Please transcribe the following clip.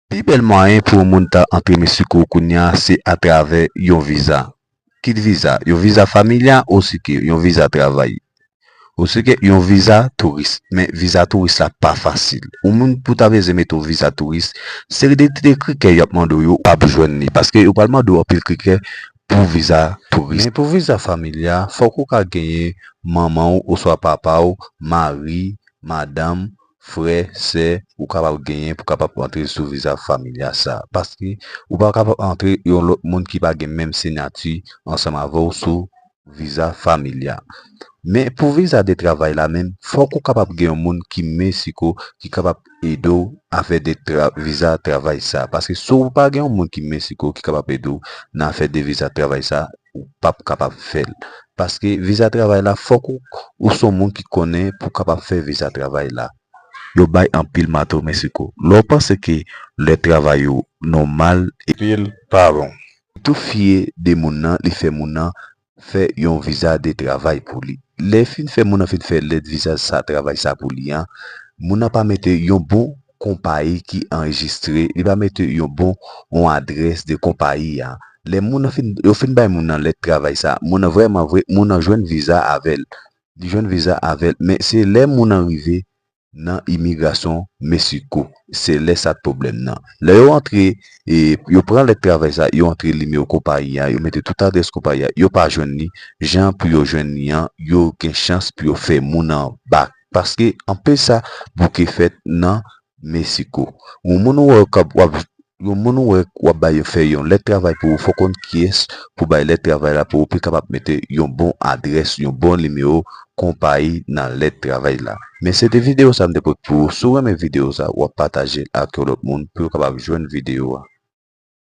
Pi bèl mwayen pou yon moun ta antre Meksiko kounye a se atravè yon viza. Kit viza, yon viza familya osike yon viza travay. Osike yon viza touris. Men viza touris la pa fasil. Yon moun pou ta beze mete yon viza touris, seri de ti kritè y ap mande w yo ou pap jwenn li. Paske yo pral mande w anpil kritè pou viza touris. Men pou viza familya, fòk ou ka genyen manman w oswa papa w, mari, madanm, frè, sè ou kapab genyen pou kapab antre sou viza familya sa. Paske ou pa kapab antre yon lòt moun ki pa gen menm siyati ansanm avè w sou viza familya. Men pou viza de travay la menm, fòk ou kapab gen yon moun ki Mexico ki kapab ede w afè de viza travay sa. Paske si w pa gen yon moun ki Mexico ki kapab ede w nan afè de viza travay sa, ou pap kapab fè l. Paske viza travay la fòk ou son moun ki konnen pou kapab fè viza travay la. Yo bay anpil mato Mexico. Lè w panse ke lè travay ou nòmal e. Pi l pa bon. Tou fye de moun nan li fè moun nan fè yon viza de travay pou li. Lè fin fè moun nan fin fè lèt viza sa travay sa pou li an, moun nan pa mete yon bon. konpayi ki anrejistre, li va mete yon bon yon adrès de konpayi a. Lè moun nan fin, yo fin bay moun nan lèt travay sa, moun nan vrèman vre, moun nan jwenn viza avè l. Li jwenn viza avè l, men se lè moun nan rive nan imigrasyon Mesiko, se lè sa pwoblèm nan. Lè yo antre, e yo pran lèt travay sa, yo antre nimewo konpayi a, yo mete tout adrès konpayi a, yo pa jwenn li, jan pou yo jwenn li an, yo gen chans pou yo fè moun nan bak. Paske anpe sa bouke fèt nan Mexico. Yon moun ou wè kap wap yon moun ou wè wap bay yo fè yon lèt travay pou ou fò konn kiyès pou bay lèt travay la pou ou pi kapab mete yon bon adrès yon bon nimewo konpayi nan lèt travay la. Men se te video sa m te pot pou ou si w renmen video sa wap patajel ak yon lòt moun pou yo kapab jwenn video a.